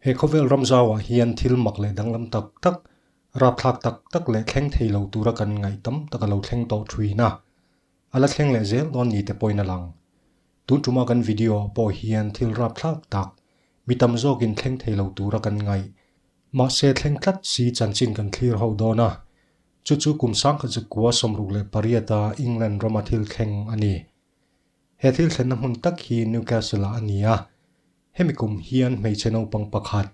He khawvel ram zauah hian thil mak leh danglam tak tak, rapthlak tak tak leh thleng thei lo tura kan ngaih tam tak a lo thleng tawh ṭhin a, a la thleng leh zel dawn ni te pawhin a lang. Tun ṭuma kan video ah pawh hian thil rapthlak tak, mi tam zawkin thleng thei lo tura kan ngaih. Mahse thleng tlat si chanchin kan thlir ho dawn a, Chu chu kum sangkhat zet kua sawmruk leh pariata England rama thil thleng a ni. He thil thlenna hmun tak hi Newcastle-ah a ni a. Hemi kum hian hmeichhe naupang pakhat,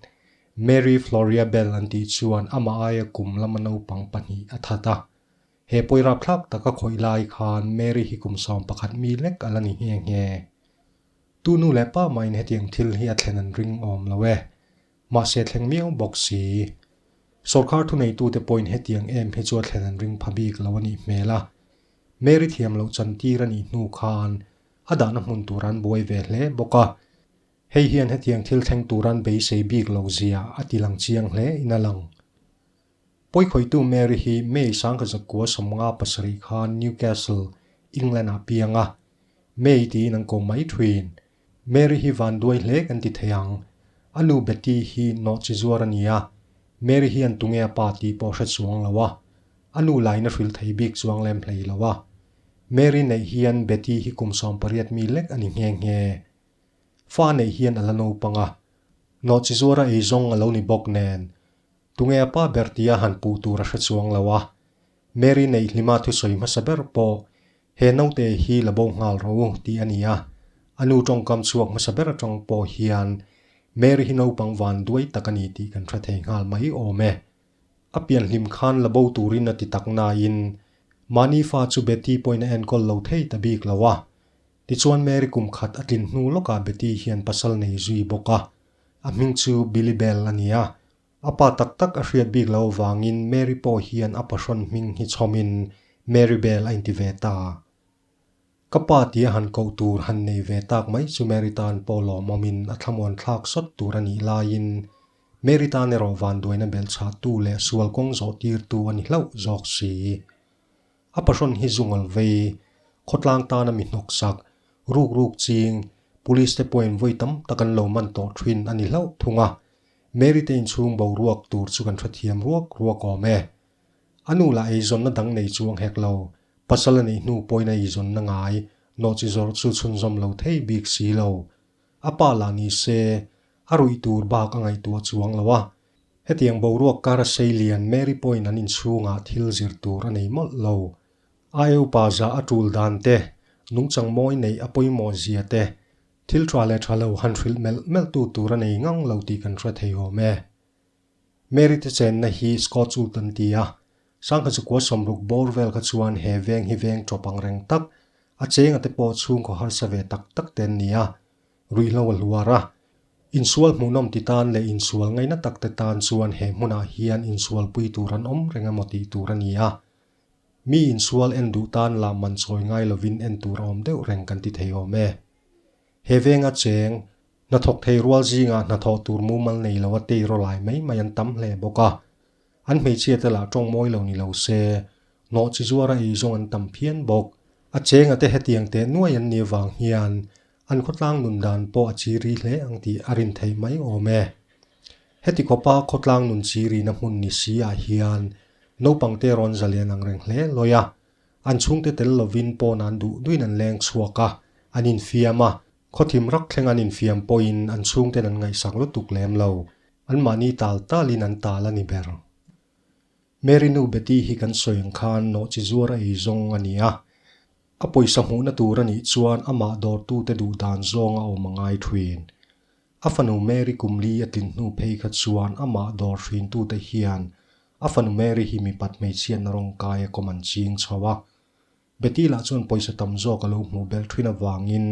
Mary Floria Bell an tih chuan amah aia kum lama naupang pahnih a that a. He pawi rapthlak taka khawih lai khan Mary hi kum sawm pakhat mi lek a la ni nghe nghe. Tunu leh pa mahin hetiang thil hi a thlen an ring awm lo e. Mahse thleng miau bawk si. Sorkar thuneitute pawhin hetiang em hi chu a thlen an ring pha bik lo a nih hmel a. Mary thiam loh chantir a nih hnu khan a dahna hmun turan buai ve hle bawk a. Hei hian hetiang thil thleng turan beisei bik lo zia a ti lang chiang hle in a lang. Pawikhawitu Mary hi May sangkazak kua sawmnga pasarih khan Newcastle, England ah piang a. May tiin an kawm mai thuin Mary hi vanduai hle kan ti thei ang. A nu Betty hi nawhchi zuar a ni a, Mary hian tunge a pa tih pawh hre chuang lo a, a nu laina hrilh thei bik chuang lem hlei lo a. Mary neih hian Betty hi kum sawm pariat mi lek a ni nghe nghe. Fa neih hian a la naupang a, nawhchi zuara ei zawng a lo ni bawk nen, tunge a pa ber tia han puh tur a hre chuang lo a. Mary neih hlima thusawi hmasa ber pawh, He naute hi la bo nghal rawh u tih a ni a. A nu tawngkam chhuak hmasa ber atang pawh hian, Mary hi naupang vanduai tak a ni tih kan hre thei nghal mai awm e. A pianhlim khan la bo turin a ti tak nain, mahni fa chu Betty pawhin a enkawl lo thei ta bik lo a. Tichuan Mary kum khat a tlin hnu lawkah Betty hian pasal nei zui bawk a. A hming chu Billy Bell a ni a. A pa tak tak a hriat bik lo avangin Mary pawh hian a pahrawn hming hi chhawmin Marybel a inti ve ta. Ka pa tia han koh tur han nei ve tak mai chu Mary tan pawh lawmawmin a thlamuan thlak sawt tur a nih laiin Mary tan erawh vanduaina bel chhahtu leh sual kawng zawh tirtu a ni hlauh zawk si. A pahrawn hi zu ngol vei, khawtlang tan a mi hnawk sak, ruk ruk ching, Police te pawhin vawi tam tak an lo man tawh thin a ni hlauh thung a, Mary te inchhung boruak tur chu kan hrethiam ruak ruak awm e. A nu lah eizawnna dang nei chu a nghek lo, pasal a nih hnu pawhin a eizawnna ngai nawh chi zawrh chu chhunzawm lo thei bik si lo. A pa lah ni se, a ruih tur bak a ngaihtuah chuang lo a. Hetiang boruak kar a sei lian Mary pawhin an inchhungah thil zir tur a nei mawlh lo. A eu pa zah a tul dan te, nungchang mawi neih a pawimawh zia te, Thil tha leh tha lo han hrilh melh melhtu tur a nei ngang lo tih kan hre thei awm e. Mary te chenna hi Scots ult an ti a, Sangkhazakuaa sawmruk bawr vel kha chuan he veng hi veng tawp ang reng tak, a chenga te pawh chhungkaw harsa ve tak tak te an ni a, ruihhlo a hluar a. Insual hmuhnawm ti tan leh insual ngaina tak te tan chuan he hmunah hian insualpui tur an awm reng emaw tih tur a ni a, Mi insual en duh tan lah man chawi ngai lovin en tur awm deuh reng kan ti thei awm e. He venga cheng, hnathawk thei rual zingah hnathawh tur mumal nei loa tei rawh lai mai mai an tam hle bawk a. An hmeichhia te lah tawng mawi lo ni lo se, hnawh chi zuara ei zawng an tam phian bawk. A chengate hetiang teh nuai an nih avang hian An khawtlang nun dan pawh a chi ri hle ang tih a rin theih mai awm e. Heti khawpa khawtlang nun chi rina hmun ni si ah hian naupangte rawn zalian ang reng hle lawi a, an chhungte tel lovin pawna'n duh duhin an leng chhuak a, an infiam a, khawthim rak thleng an infiam pawhin an chhungten an ngaihsak lutuk lem lo, anmahni tal talin an tal a ni ber. Mary nu Betty hi kan sawi ang khan nawhchi zuar a ei zawng a ni a. A pawisa hmuhna tur a nih chuan amah dawrtute duh dan zawng a awm a ngai thin. A fanu Mary kum li a tlin hnu phei kha chuan amah dawr hrintute hian a fanu Mary hi mi pat hmeichhiatna rawng kai a kawm an ching chho a. Betty lah chuan pawisa tam zawk a lo hmuh bel thin avangin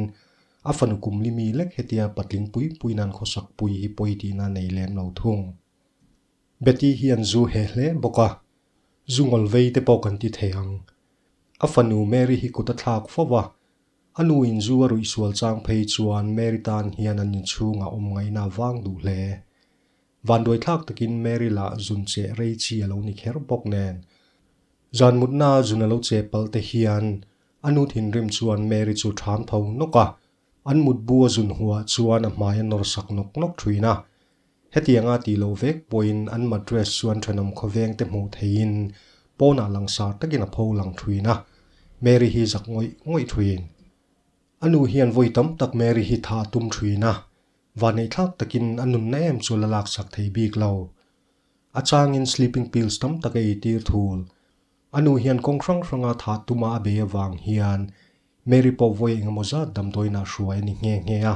a fanu kum li mi lek hetia patling pui puina an khawsak pui hi pawi tihna a nei lem lo thung. Betty hi an zu he hle bawk a, zu ngol vei te pawh kan ti thei ang. A fanu Mary hi kut a thlak fo va, a nu in zu a ruih sual chang phei chuan Mary tan hian an inchhung a awm ngaina vang duh hle. Vanduai thlak takin Mary lah zun che rei chi a lo ni kher bawk nen, zan mutna zun a lo che pal te hian a nu thinrim chuan Mary chu ṭhan tho nawk a, An mutbu a zun huah chuan a hmai a nawr sak nawk nawk ṭhin a. Hetianga tih lo vek pawhin an mattress chuan ṭhenawm khawveng te hmuh theihin pawnah langsar takin a pho lang ṭhin a. Mary hi zak ngawih ngawih ṭhin. A nu hian vawi tam tak Mary hi tha a tum ṭhin a, vaneihthlak takin a nunna em chu la laksak thei bik lo. A changin sleeping pills tam tak a ei tir thul. A nu hian kawng hrang hranga thah tuma a bei avang hian Mary pawh vawi engemaw zat damdawiinah hruai a ni nghe nghe a.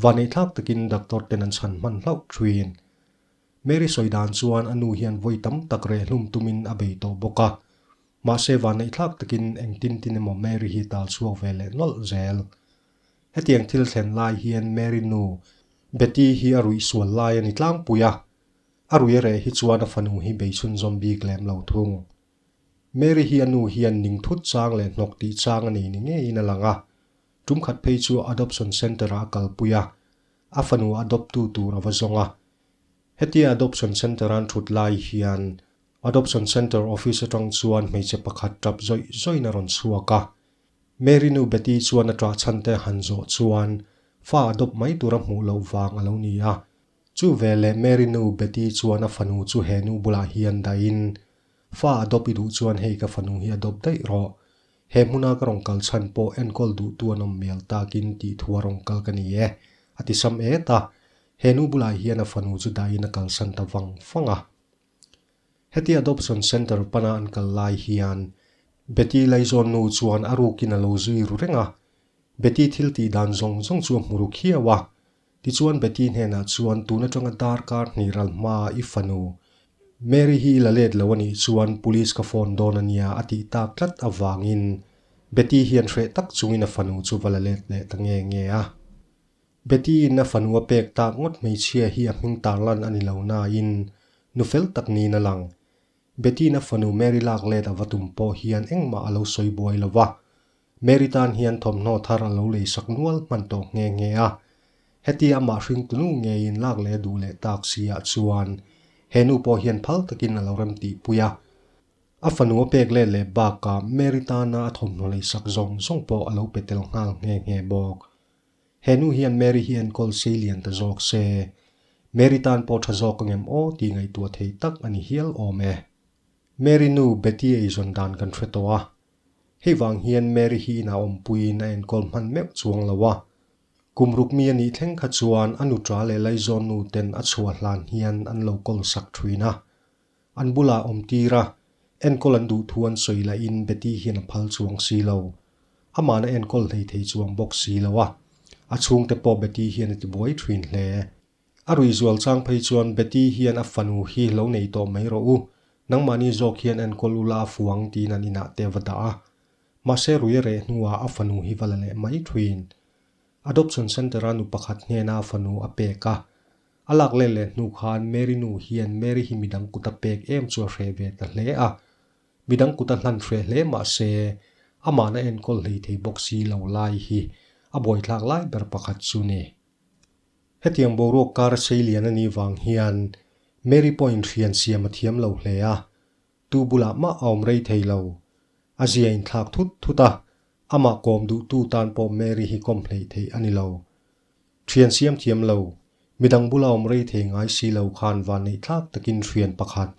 Vaneihthlak takin doctor ten an chhan hman hlauh ṭhin. Mary sawi dan chuan a nu hian vawi tam tak reh hlum tumin a bei tawh bawk a. Mahse vaneihthlak takin engtin tin emaw Mary hi tal chhuak ve leh nawlh zel. Hetiang thil thlen lai hian Mary nu Betty hi a ruih sual lai a ni tlangpui a. A ruireh hi chuan a fanu hi beisun zawm bik lem lo thung. Mary hi a nu hian ning thut chang leh hnawk tih chang a nei ni ngeiin a lang a. Tumkhat phei chu adoption centre ah a kalpui a, a fanu adopt tu tur a va zawng a. Hetia adoption centre an thut lai hian adoption centre office atang chuan hmeichhe pakhat tap zawih zawih in a rawn chhuak a. Mary nu Betty chuan a ṭah chhante han zawh chuan fa adopt mai tur a hmuh loh vang a lo ni a, Chu vel leh Mary nu Betty chuan a fanu chu he nu bulah hian dahin, Fa adopt i duh chuan hei ka fanu hi adopt daih rawh. He hmuna ka rawn kal chhan pawh enkawl duhtu a nawm hmel takin tihthua a rawn kal ka ni e, a ti sam et a. He nu bulah hian a fanu chu dahin a kalsan ta vang vang a. Heti adoption centre pana an kal lai hian Betty laizawn nu chuan a rukin a lo zui ru reng a. Betty thil tih dan zawng zawng chu a hmu ru khiau a. Tichuan Betty hnenah chuan tun atanga darkar hnih ral hma i fanu Mary hi i la let lo a nih chuan police ka phone dawn a nia a tih tak tlat avangin Betty hian hreh tak chungin a fanu chu va la let leh ta nge nge a. Betty in a fanu a pek tak ngawt hmeichhia hi a hming tarlan a ni lo nain nu fel tak niin a lang. Betty in a fanu Mary lak let a va tum pawh hian engmah a lo sawi buai lo va, Mary tan hian thawmhnaw thar a lo lei sak nual hman tawh nghe nghe a. Hetia amah hring tunu ngeiin lak leh duh leh tak siah chuan he nu pawh hian phal takin a lo rem tihpui a. A fanu a pek let leh bakah Mary tana a thawmhnaw lei sak zawng zawng pawh a lo pe tel nghal nghe nghe bawk. He nu hian Mary hi enkawl sei lian ta zawk se. Mary tan pawh tha zawk a ngem aw tih ngaihtuah thei tak a ni hial awm e. Mary nu Betty eizawn dan kan hre tawh a, Hei vang hian Mary hi ina awm puiin a enkawl hman meuh chuang lo a. Kum ruk mi a nih thleng kha chuan a nuṭa leh laizawnnu ten a chhuah hlan hian an lo kawl sak ṭhin a. An bulah awm tir a, enkawl an duh thu an sawi lahin Betty hian a phal chuang si lo. Amahna a enkawl hleithei chuang bawk si lo a, a chhungte pawh Betty hian a ti buai ṭhin hle. A ruihzual chang phei chuan Betty hian a fanu hi lo nei tawh mai rawh u, nangmahni zawk hian enkawl u la a fuang tiin an inah te va dah a. Mahse rui a reh hnuah a fanu hi va la leh mai thuin. Adoption Centre-a nu pakhat hnena a fanu a pek a. A lak let leh hnu khan Mary nu hian Mary hi midang kuta pek em chu a hreh ve ta hle a. Midang kuta hlan hreh hle mahse, amahna enkawl hleithei bawk si lo lai hi a buaithlak lai ber pakhat chu ni. Hetiang boruak kar a sei lian a nih vang hian Mary pawh inhrian siam a thiam lo hle a, tu bulah mah a awm rei thei lo. A zia a inthlak thut thut a, amah kawm duhtu tan pawh Mary hi kawm hleih theih a ni lo. Thian siam thiam lo, midang bula awm rei thei ngai si lo khan vanneihthlak takin hrian pakhat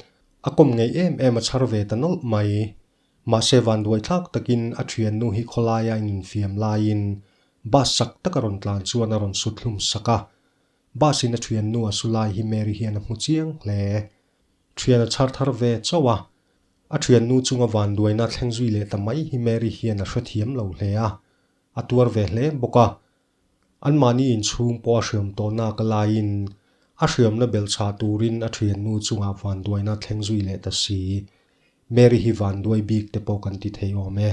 a kawm ngei em em a chhar ve ta nawlh mai. Mahse vanduai thlak takin a thiannu hi khawlaia infiam laiin bus sak taka rawn tlan chuan a rawn suthlum sak a. Busin a thiannu a su lai hi Mary hian a hmu chiang hle. Thian a chhar thar ve chauh a. A thiannu chunga vanduaina thleng zui leh ta mai hi Mary hian a hrethiam lo hle a. A tuar ve hle bawk a. Anmahni inchhung pawh a hriam tawhna ka laiin a hriamna bel chhah turin a thiannu chungah vanduaina thleng zui leh ta si. Mary hi vanduai bik te pawh kan ti thei awm e.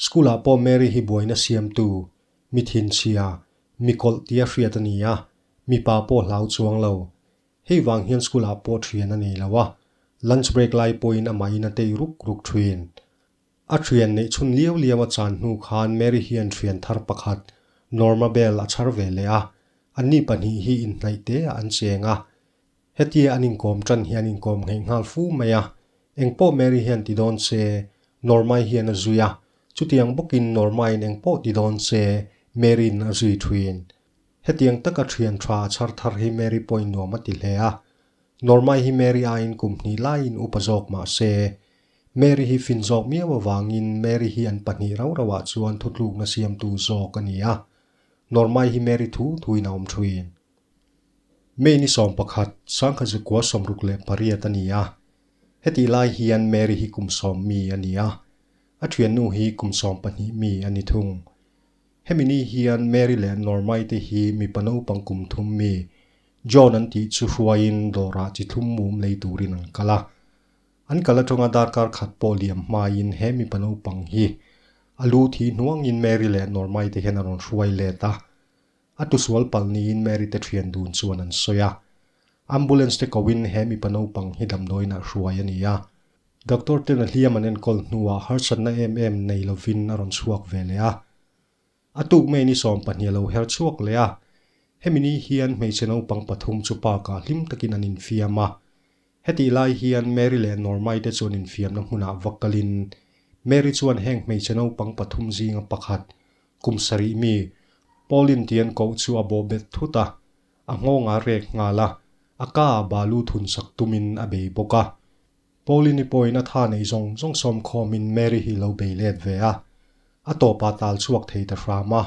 School-ah pawh Mary hi buaina siamtu, mithinchhia, mikawlh tia hriat a ni a, mipa pawh hlau chuang lo. Hei vang hian school-ah pawh thian a nei lo a, lunch break lai pawhin amahin a tei ruk ruk thin. A ṭhian neih chhun liau liau a chan hnu khan Mary hian ṭhian thar pakhat Norma Bell a chhar ve leh a, anni pahnih hi inhnaih te ah an cheng a. Hetia an inkawm ṭan hian inkawm ngheih nghal fu mai a. Engpawh Mary hian ti dawn che, Norma-i hian a zui a, chutiang bawkin Norma-in engpawh ti dawn che Mary-in a zui ṭhin. Hetiang taka ṭhian ṭha a chhar thar hi Mary pawhin nuam a ti hle a. Norma-i hi Mary aiin kum hnih laiin upa zawk mah se, Mary hi fin zawk miau avangin Mary hi an pahnih rau rauah chuan thutlukna siamtu zawk a ni a. Norma-i hi Mary thu thuin a awm thuin. May ni sawm pakhat, Sangha Zukua sawmruk leh pariat a ni a. Hetih lai hian Mary hi kum sawm mi a ni a. A thiannu hi kum sawm pahnih mi a ni thung. Hemi ni hian Mary leh Norma-i te hi mipa naupang kum thum mi John an tih chu hruaiin dawrah chi thlum mum lei turin an kal a. An kal aṭanga darkar khat pawh liam hmaiin he mipa naupang hi a lu thi hnuangin Mary leh Norma-i te hian a rawn hruai let a. A tu sual palh niin Mary te ṭhian dun chuan an sawi a. Ambulance te koin he mipa naupang hi damdawiinah hruai a ni a. Doctor ten a hliam an enkawl hnuah harsatna em em nei lovin a rawn chhuak ve leh a. A tuk mai ni sawm pahnih a lo her chhuak leh a. Hemi ni hian hmeichhe naupang pathum chu park ah hlim takin an infiam a. Hetih lai hian Mary leh Normai te chu an infiamna hmunah va kalin, Mary chuan heng hmeichhe naupang pathum zinga pakhat, kum sarih mi, Pauline tih an koh chu a bawhbet thut a. A nghawngah rek nghal a, a kaa balu thun sak tumin a bei bawk a. Pauline-i pawhin a tha nei zawng zawng sawm khawmin Mary hi lo bei let ve a, a tawpah tal chhuak thei ta hram a.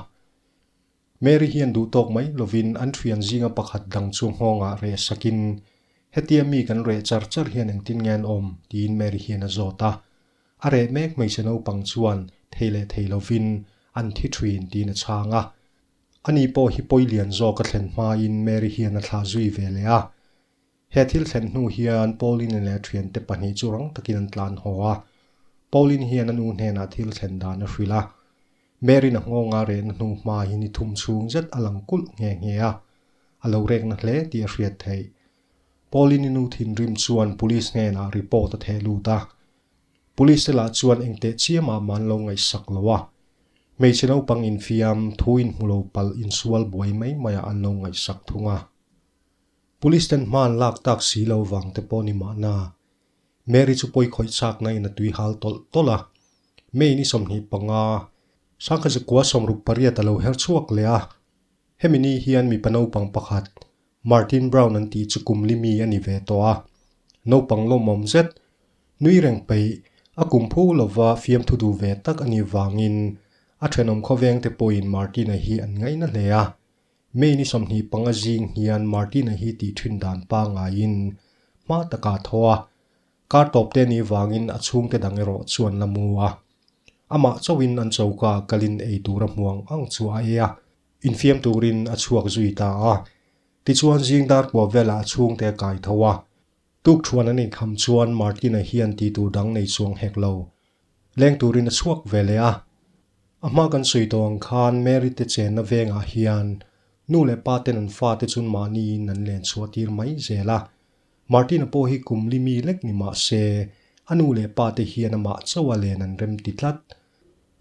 Mary hian duhtawk mai lovin an thian zinga pakhat dang chu nghawngah reh sakin, Hetia mi kan reh char char hian engtin nge an awm? tiin Mary hian a zawt a. A reh mek hmeichhe naupang chuan thei leh thei lovin, An thi thin, tiin a chhang a. Ani pawh hi pawi lian zawka thlen hmain Mary hian a thlah zui ve leh a. He thil thlen hnu hian Pauline leh a thiante pahnih chu rang takin an tlan haw a. Pauline hian a nu hnenah thil thlen dan a hrilh a. Mary-na nghawngah rehna hnu hmain i thum chhung zet a lang kulh nghe nghe a. A lo rekna hle tih a hriat theih. Pauline-i nu thinrim chuan police hnenah report a theh lut a. Police-te lah chuan engteh chiam ah man lo ngaihsak lo a, hmeichhe naupang infiam thu inhmu lo palh insual buai mai mai ah an lo ngaihsak thung a. Police-ten hma an lak tak si lo vang te pawh ni mahna, Mary chu pawi khawih chakna in a tui hal tawlh tawlh a. May ni sawmhnih panga, Sangkhazi kua sawmruk pariat a lo her chhuak leh a, hemi ni hian mipa naupang pakhat Martin Brown an tih chu kum limi a ni ve tawh a, naupang lawmawm zet nui reng peih a kum phu lova fiamthu duh ve tak a nih vangin a thenawm khawveng te pawhin Martin-a hi an ngaina hle a. May ni sawmhnih panga zing hian Martin-a hi tih thin dan pangaiin hma taka a thaw a, Kar tawp te nih vangin a chhungte dang erawh chu an la mu a, amah chauhin an choka kalin ei tura hmuang ang chu a ei a. infiam turin a chhuak zui ta a, tichuan zing dar pua velah a chhungte a kai tho a. Tukṭhuan an inkham chuan Martina hian ti tur dang nei chuang hek lo, leng turin a chhuak ve leh a. A hma kan sawi tawh ang khan Mary-te chenna vengah hian nu leh paten an fate chun mahniin an lenchhuahtir mai zel a, Martina pawh hi kumli mi lek ni mah se, a nu leh pa te hian amah chaua len an rem ti tlat.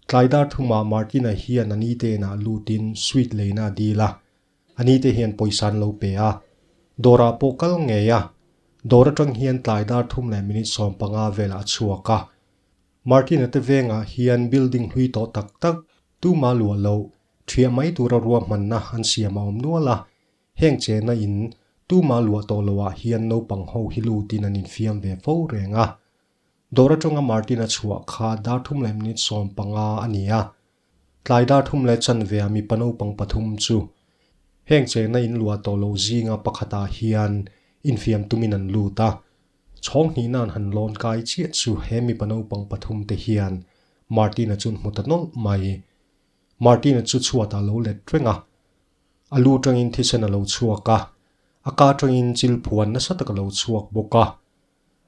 Tlai dar thuma Martina hian a ni te inah lut in sweet leina a dil a, a ni te hian pawisa an lo pe a. Dawrah pawh kal ngei a, dawr atang hian tlai dar thum leh minute sawm panga velah a chhuak a. Martina te vengah hian building hlui tawh tak tak, tumah luah loh, thiah mai tura ruahmanna an siam a awm nual a, Heng che na in tuma luah tawh lo ah hian naupang ho hi lut in an in fiam ve fo reng a. Dawr atanga Martin a chhuah kha darthum leh minute sawm panga a ni a. Tlai darthum leh chanvea mipa naupang pathum chu heng che na in luah tawh lo zinga pakhat ah hian in fiam tum in an lut a. Chhawng hnih nan han lawn kai chiah chu he mipa naupang pathum te hian Martin a chun hmu ta nawlh mai. Martin-a chu chhuatah lo let reng a, a lu tangin thisen a lo chhuak a, a ka tangin chilphuan nasa tak a lo chhuak bawk a.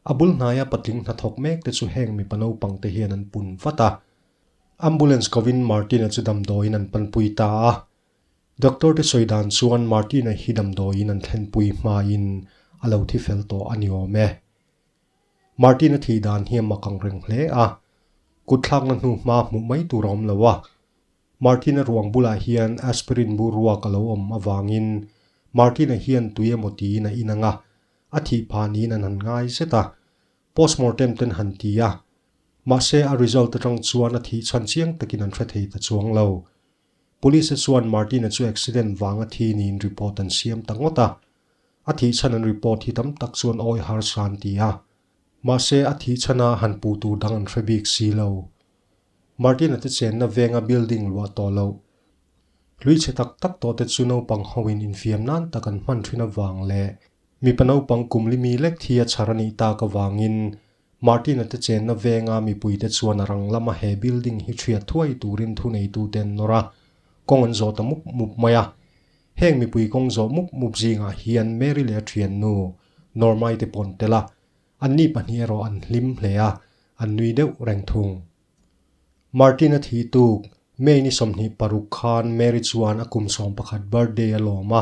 A bul hnaia patling hnathawk mek te chu heng mipa naupang te hian an pun vat a. Ambulance kovin Martin-a chu damdawiin an panpui ta a. Doctor te sawi dan chuan Martin-a hi damdawiin an thlenpui hmain a lo thi fel tawh a ni awm e. Martin-a thih dan hi a mak ang reng hle a, kut thlakna hnu hma hmuh mai tur a awm lo a. Martin-a ruang bulah hian aspirin bur ruak a lo awm avangin Martin-a hian tui emaw tiin a inang a, a thih pha niin an han ngai zet a, postmortem ten han ti a. Mahse a result atang chuan a thih chhan chiang takin an hre thei ta chuang lo. Police-a chuan Martin-a chu accident vanga thi niin report an siam ta ngawt a. A thih chhan an report hi tam tak chuan awi harsa an ti a. Mahse, a thih chhana han pu tur dang an hre bik si lo. Martin-a te chenna venga building luah tawh loh, hlui chhe tak tak tawh te chu naupang hoin infiam nan tak an hman thin avang leh mipa naupang kum limi lek thi a chhar a nih tak avangin Martin-a te chenna venga mipuite chuan a rang lama he building hi ṭhriat thuai turin thuneitu-te an nawr a, kawng an zawh ta mup mup mai a. Heng mipui kawng zawh mup mup zingah hian Mary leh a ṭhiannu, Norma-i te pawh an tel a, anni pahnih erawh an hlim hle a, an nui deuh reng thung. Martin-a thih tuk, May-ni sawmhnih paruk khan Mary chuan a kum sawmpakhat birthday a lawm a,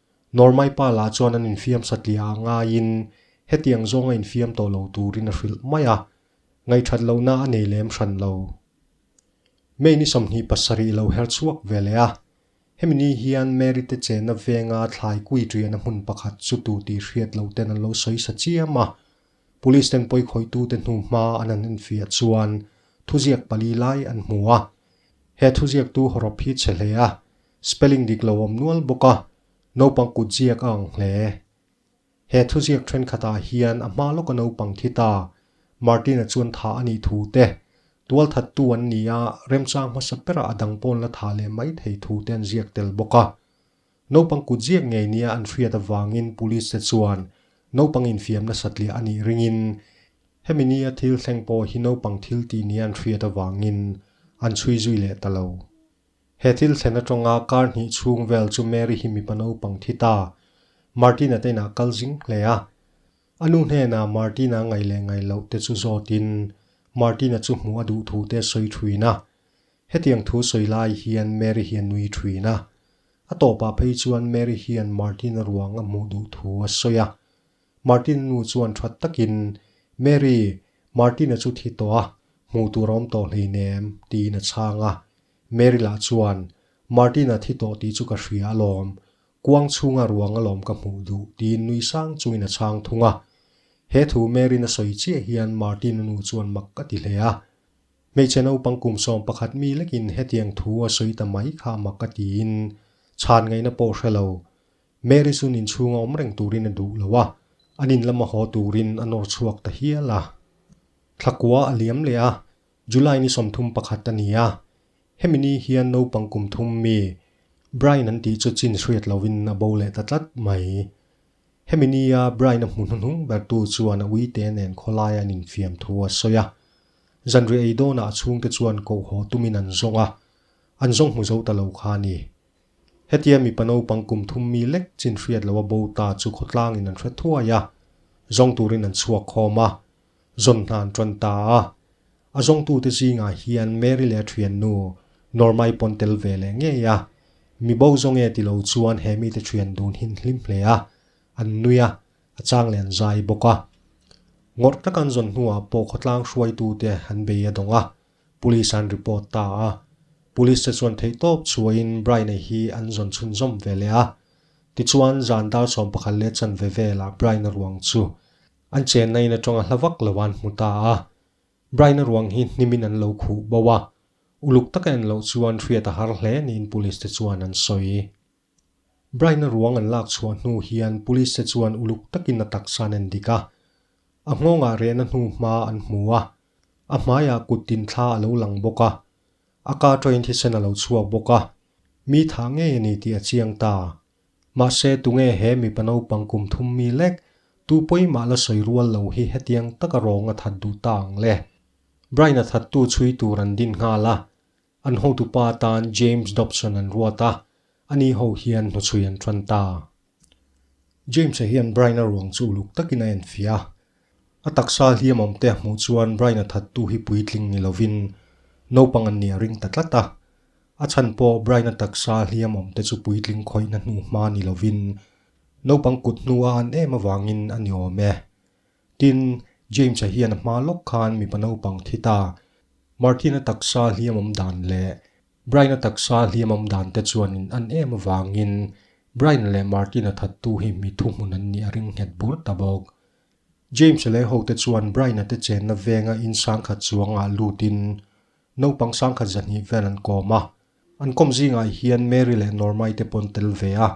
Normaii pa lah chuan an infiam satliah ah ngaiin hetiang zawnga infiam tawh lo turin a hrilh mai a, ngaihthat lohna a nei lem hran lo. May ni sawmhnih pasarih lo herh chhuak ve leh a, hemi ni hian Mary te chenna venga thlai kui rian a hmun pakhat chu tu tih hriat lo ten an lo sawi sa chiam a, Police ten pawi khawitu te hnu hma an han infiah chuan thuziak pali lai an hmu a, he thuziak tu hawrawp hi che hle a, Spelling dik lo awm nual bawk a, naupang kut ziak a ang hle. He thuziak thenkhatah hian a hma lawka naupang khi ta, Martina chuan tha a nih thu te, tualthat tu an ni a, remchang hmasa berah a dang pawn la tha leh mai thei thu te an ziak tel bawk a. Naupang kut ziak ngei nia an hriat avangin Police te chuan naupang infiam nasat leh a nih ringin hemi nia thil thleng pawh hi naupang thil tih nia an hriat avangin an chhui zui leh ta lo. He thil thlen atanga kar hnih chhung vel chu Mary hi mipa naupang thi ta Martina te inah kal zing hle a. A nu hnenah Martina ngaih leh ngaih loh te chu zawtin Martina chu hmuh a duh thu te sawi thuin a. Hetiang thu sawi lai hian Mary hi a nui thuin a. A tawpah phei chuan Mary hian Martina ruang a hmuh duh thu a sawi a. Martina nu chuan that takin, Mary, Martina chu thi tawh a, hmuh tur a awm tawh hleinem, tiin a chhang a. Mary lah chuan, Martin-a thi tawh tih chu ka hria alawm, kuang chhunga ruang alawm ka hmuh duh, tiin nui sang chungin a chhang thung a. He thu Mary-in a sawi chiah hian Martin-a nu chuan mak a ti hle a. Hmeichhe naupang kum sawm pakhat mi lekin hetiang thu a sawi ta mai kha a mak a tiin chhan ngaihna pawh hre lo. Mary chu nin chhunga awm reng turin a duh lo a, a nin lama haw turin a nawr chhuak ta hial a. Thlakua a liam leh a, July ni sawmthum pakhat a ni a, hemi ni hian naupang kum thum mi Brian an tih chu chin hriat lovin a bo leh ta tlat mai. Hemi nia Brian a hmu hnuhnung bertu chuan a uite nen khawlaia an infiam thu a sawi a. Zanri ei dawnah a chhungte chuan kohhaw tumin an zawng a, an zawng hmu zo ta lo kha a ni. Hetia mipa naupang kum thum mi lek chin hriat lo a bo ta chu khawtlangin an hre thuai a, zawng turin an chhuak khawm a. zawn hna an tawn ta a. A zawngtute zingah hian Mary leh a thiannu Norma-i pawn tel ve leh ngei a. Mi bo zawng e ti lo chuan he mite thian dun hi an hlim hle a, an nui a, a chang leh an zai bawk a. Ngawrh tak an zawn hnuah pawh khawtlang hruaitute an bei a dawng a, Police-ah an report ta a. Police-te chuan theih tawp chhuahin Brian-a hi an zawn chhunzawm ve leh a. Tichuan zan dar sawmpakhat leh chanve velah Brian-a ruang chu An chen a in atanga hla vak lo an hmu ta a, Brian-a ruang hi hnimin an lo khuh bo a, uluk taka en loh chuan hriat a har hle niin police te chuan an sawi. Brian-a ruang an lak chhuah hnu hian police te chuan uluk takin a taksan en dik a, a nghawngah rehna hnu hma an hmu a, a hmaiah kut tin thla a lo lang bawk a, a car-a in thisen a lo chhuak bawk a, mi thah ngei a ni tih a chiang ta. Mahse tunge he mipa naupang kum thum mi lek tu pawimah la sawi rual lo hi hetiang taka rawnga that duh ta ang le. Brian-a thattu chhui tur an din nghal a, an hotu pa atan James Dobson an ruat a, ani ho hian hnuchhui an ṭan ta. James-a hian Brian-a ruang chu uluk takin a enfiah a, A taksa hliam awm te a hmuh chuan Brian-a thattu hi puitling ni lovin naupang an nih a ring ta tlat a. A chhan pawh Brian-a taksa hliam awm te chu puitling khawihna hnu hma ni lovin naupang kut hnu a an em avangin a ni awm e. Tin, James-a hian a hma lawk khan mipa naupang thi ta Martin-a taksa hliam awm dan leh Brian-a taksa hliamam dante chuan in an em avangin Brian leh Martin-a thattu hi mithu hmun an nih a ring nghet bur ta bawk. James leh hote chuan Brian-a te chenna venga in sangkhat chuangah lutin naupang sangkhat zahnih vel an kawm a. An kawm zingah hian Mary leh Norma-i te pawn tel ve a.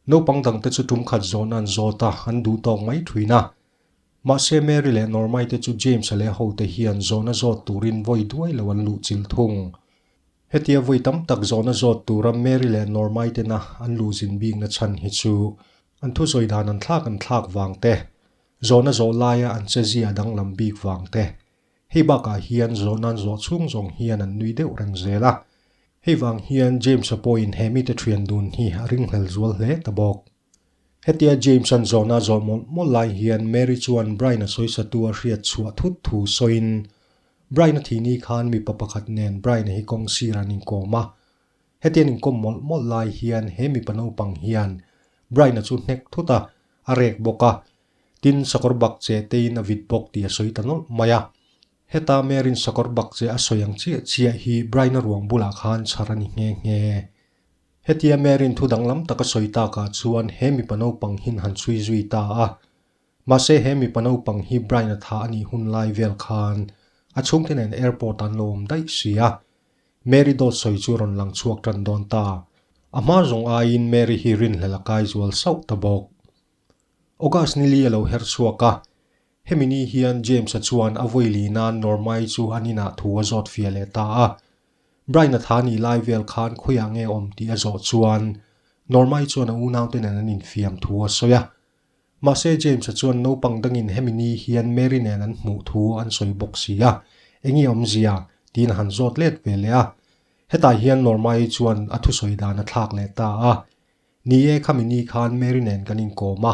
Naupang dangte chu tumkhat zawhna an zawt a, an duh tawk mai thin a. Mahse Mary leh Norma-i te chu James-a leh hote hian zawhna zawt turin vawi duai lo an luh chil thung. Hetia vawi tam tak zawhna zawt tura Mary leh Norma-i tena an luh zin bikna chhan hi chu an thusawi dan an thlak an thlak vang te, zawhna zawh laia an chezia a danglam bik vang te. Hei bakah hian zawhna an zawh chhung zawng hian an nui deuh reng zel a. Hei vang hian James-a pawhin he mite thian dun hi a ringhlel zual hle ta bawk. Hetia James-a'n zawnah zawh mawlh mawlh lai hian Mary chuan Brian-a sawisatu a hriat chhuah thut thu sawiin, Brian-a thihni khan mipa pakhat nen Brian-a hi kawng sirah an inkawm a. Hetian inkawm mawlh mawlh lai hian he mipa naupang hian Brian-a chu hnek thut a, a rek bawk a, tin sakawr bak che teiin a vit bawk tih a sawi ta nawlh mai a. Heta Mary-n sakawr bak che a sawi ang chiah chiah hi Brian-a ruang bulah khan chhar a ni nghe nghe. Hetia Maryn thu danglam taka sawi takah chuan he mipa naupang hin han chhui zui ta a. Mahse he mipa naupang hi Brian-a tha a nih hun lai vel khan a chhungte nen airport an lo awm daih si a. Mary dawt sawi chu rawn lang chhuak tan dawn ta. A hma zawng aiin Mary hi rinhlel a kai zual sauh ta bawk. August nili a lo her chhuak a, Hemi ni hian James-a chuan a vawi lih nan Norma-i chu an inah thu a zawt fia leh ta a. Brian-a tha nih lai vel khan khawiah nge awm tih a zawh chuan Norma-i chuan a unaute nen an infiam thu a sawi a. Mahse, James-a chuan naupang dangin hemi ni hian Mary nen an hmuh thu an sawi bawk si a, eng i awmzia? tiin a han zawt let ve leh a. Hetah hian Norma-i chuan a thusawi dan a thlak leh ta a, Ni e, khami ni khan Mary nen kan inkawm a.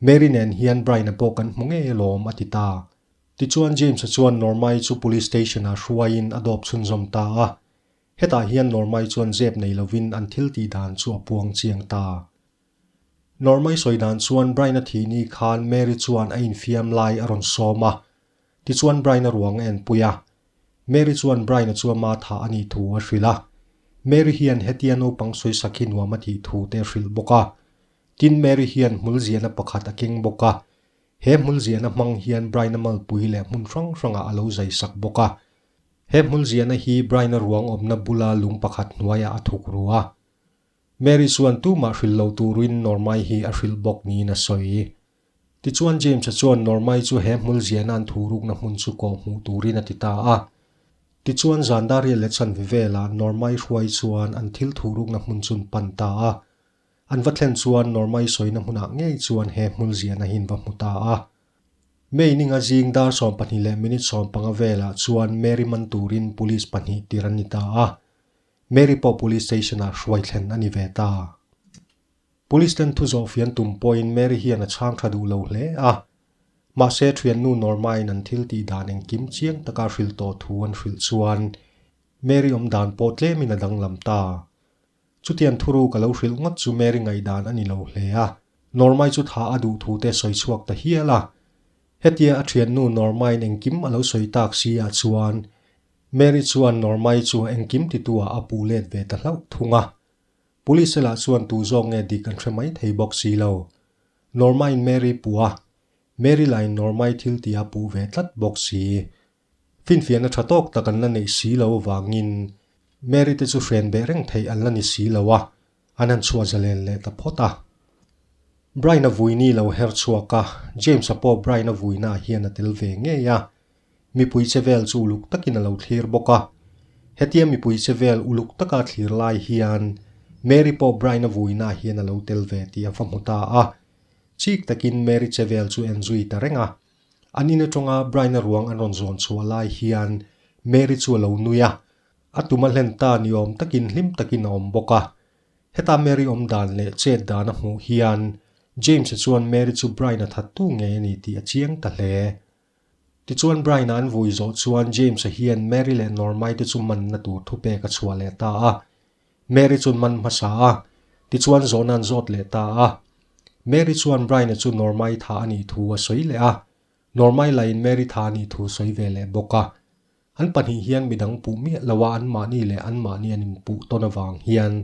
Mary nen hian Brian-a pawh kan hmu ngei alawm, a ti ta. Tichuan James-a chuan Norma-i chu Police Station-ah hruaiin a dawp chhunzawm ta a. Hetah hian Norma-i chuan zep nei lovin an thil tih dan chu a puang chiang ta. Norma-i sawi dan chuan Brian-a thihni khan Mary chuan a infiam lai a rawn sawm a. Tichuan Brian-a ruang a en pui a. Mary chuan Brian-a chu a matha a nih thu a hrilh a. Mary hian hetia naupang sawisak hi nuam a tih thu te a hrilh bawk a. Tin, Mary hian hmul ziahna pakhat a keng bawk a. He hmul ziahna hmang hian Brian a malpui leh hmun hrang hrangah a lo zai sak bawk a. He hmul ziahna hi Brian-a ruang awmna bula lung pakhat hnuaiah a thuk ru a. Mary chuan tumah hrilh lo turin Normai hi a hrilh bawk niin a sawi. Tichuan, James-a chuan Normai chu he hmul ziahna an thu rukna hmun chu kawh hmuh turin a ti ta a. Tichuan, Zandaria leh Chanvi velah Normai hruai chuan an thil thu rukna hmun chun pan ta a. An va thlen chuan Norma-i sawina hmunah ngei chuan he hmul ziahna hi an va hmu ta a. May ninga zing dar sawm pahnih leh minute sawm panga velah chuan Mary man turin police pahnih tir an ni ta a. Mary pawh police station-ah hruai thlen a ni ve ta. Police ten thu zawh fian tum pawhin Mary hian a chhang tha duh lo hle a. Mahse, thiannu Norma-in an thil tih dan engkim chiang taka hrilh tawh thu an hrilh chuan Mary awm dan pawh tlemin a danglam ta. Chutian thuru ka lo hrilh ngawt chu Mary ngaihdan a ni lo hle a, Norma-i chu tha a duh thu te sawi chhuak ta hial a. Hetia a thiannu Norma-in engkim a lo sawi tak si ah chuan Mary chuan Norma-i chu a engkim ti tu ah a puh let ve ta hlauh thung a. Police-a lah chuan tu zawk nge dik an hre mai thei bawk si lo. Norma-in Mary puh a, Mary lahin Norma-i thil ti a puh ve tlat bawk si. Finfiahna tha tawk tak an la neih si lo avangin Mary te chu hrian beh reng theih an la ni si lo a, an han chhuah zalen leh ta phawt a. Brian-a vui ni lo her chhuak a, James-a pawh Brian-a vuinaah hian a tel ve ngei a. Mipui che vel chu uluk takin a lo thlir bawk a. Hetia mipui che vel uluk taka a thlir lai hian Mary pawh Brian-a vuinaah hian a lo tel ve tih a va hmu ta a. Chik takin Mary che vel chu en zui ta reng a. An in atanga Brian-a ruang an rawn zawn chhuah lai hian Mary chu a lo nui a, a tum a hlen ta ni awm takin hlim takin a awm bawk a. Heta Mary awm dan leh chet dan a hmuh hian James-a chuan Mary chu Brian-a thattu ngei a ni tih a chiang ta hle. Tichuan Brian-a an vui zawh chuan James-a hian Mary leh Norma-i te chu manna tur thupek a chhuah leh ta a, Mary chu man hmasa a, tichuan John-a an zawt leh ta a. Mary chuan Brian-a chu Norma-i tha a nih thu a sawi leh a. Norma-i lahin Mary tha a nih thu sawi ve leh bawk a. An pahnih hian midang puh miah lo a, anmahni leh anmahni an inpuh tawn avang hian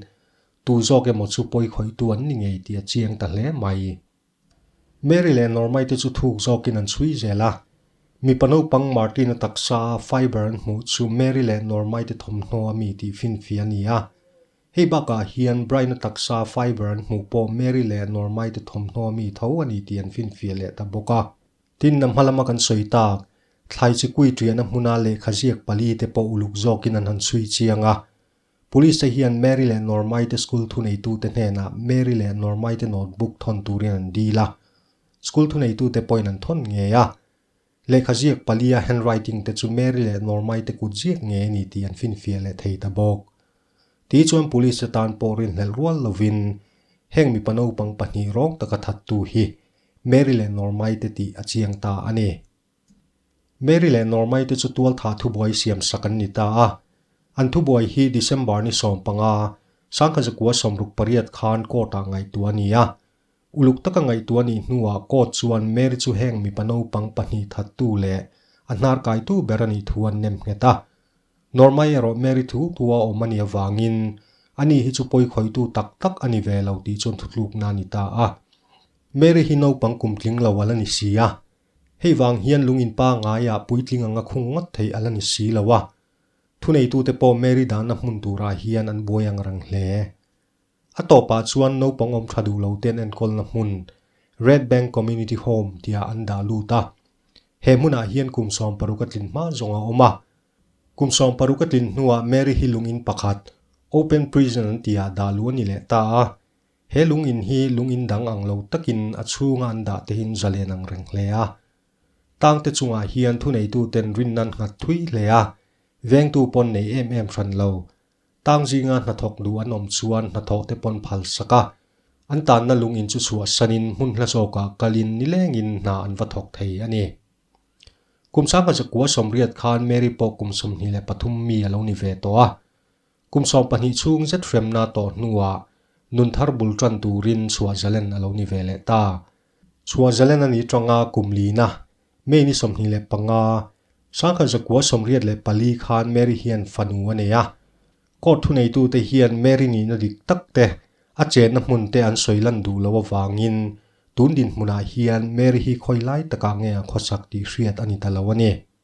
tu zawk emaw chu pawi khawihtu an ni ngei tih a chiang ta hle mai. Mary leh Norma-i te chu thuk zawkin an chhui zel a. Mipa naupang Martin-a taksa a fibre an hmuh chu Mary leh Norma-i te thawmhnaw a mi tih finfi a ni a. Hei bakah hian Brian-a taksa a fibre an hmuh pawh Mary leh Norma-i te thawmhnaw a mi tho a ni tih an finfiah leh ta bawk a. Tinna hma lama kan sawi tak, thlai chi kuitiana hmuna lehkha ziak pali te pawh uluk zawkin an han chhui chiang a. Police-te hian Mary leh Normaite school thuneitute hnenah Mary leh Normaite notebook thawn turin an deal a. School thuneitute pawhin an thawn ngei a. Lehkha ziak palia handwriting te chu Mary leh Normaite kut ziak ngei a ni tih an finfiah leh thei ta bawk. Tih chuan Police-te tan pawh rinhlelh rual lovin, heng mipa naupang pahnih rawng taka thattu hi Mary leh Normaite tih a chiang ta a ni. Mary leh Normaite chu tualtha thubuai siamsak an ni ta a. An thubuai hi December ni sawm panga Sangkha Zakua sawmruk pariat khan court-ah ngaihtuah a ni a. Uluk taka ngaihtuah nih hnuah court chuan Mary chu heng mipa naupang pahnih thattu leh a hnarkaitu ber a nih thu an nem nghet a. Normai erawh Mary thu thu a awm a nih avangin ani hi chu pawikhawitu tak tak a ni ve lo tih chuan thutlukna a ni ta a. Mary hi naupang kum tling lo a la ni si a. Hei vang hian lungin pa ngaiah puitling anga khung ngawt theih a la ni si lo a. Thuneitute pawh Mary dana hmun turah hian an buai ang rang hle. A tawpah chuan naupang awm tha duh lo te'n enkawlna hmun, Red Bank Community Home, tia an dah lut a. He hmunah hian kum sawm paruk a tlin hma zawng a awm a. Kum sawm paruk a tlin hnuah Mary hi lungin pakhat, open prison an ti ah dah luh a ni leh ta a. He lung in hi lung in dang ang lo takin a chhunga an dah tehin zalen ang reng hle a. Tang te chungah hian thuneitu ten rinna an nghat thui hle a, vengtu pawn nei em em hran lo. Tang zinga hnathawk duh an awm chuan hnathawh te pawn phal sak a, an tanna lung in chu chhuahsan in hmun hla zawkah kal in ni leng in hna an va thawk thei a ni. Kum sangha zakua sawmriat khan Mary pawh kum sawmhnih leh pathum mi a lo ni ve tawh a. Kum sawm pahnih chhung zet hremna tawh hnuah nun thar bul ṭan turin chhuah zalen a lo ni ve leh ta. Chhuah zalen a nih ṭanga kum lina, May ni sawmhnih leh panga, Sangha zakua sawmriat leh pali khan Mary hian fanu a nei a. Court thuneitute hian Mary nihna dik tak te, a chenna hmun te an sawi lan duh loh avangin tun dinhmunah hian Mary hi khawi lai taka nge a khawsak tih hriat a ni ta lo a ni.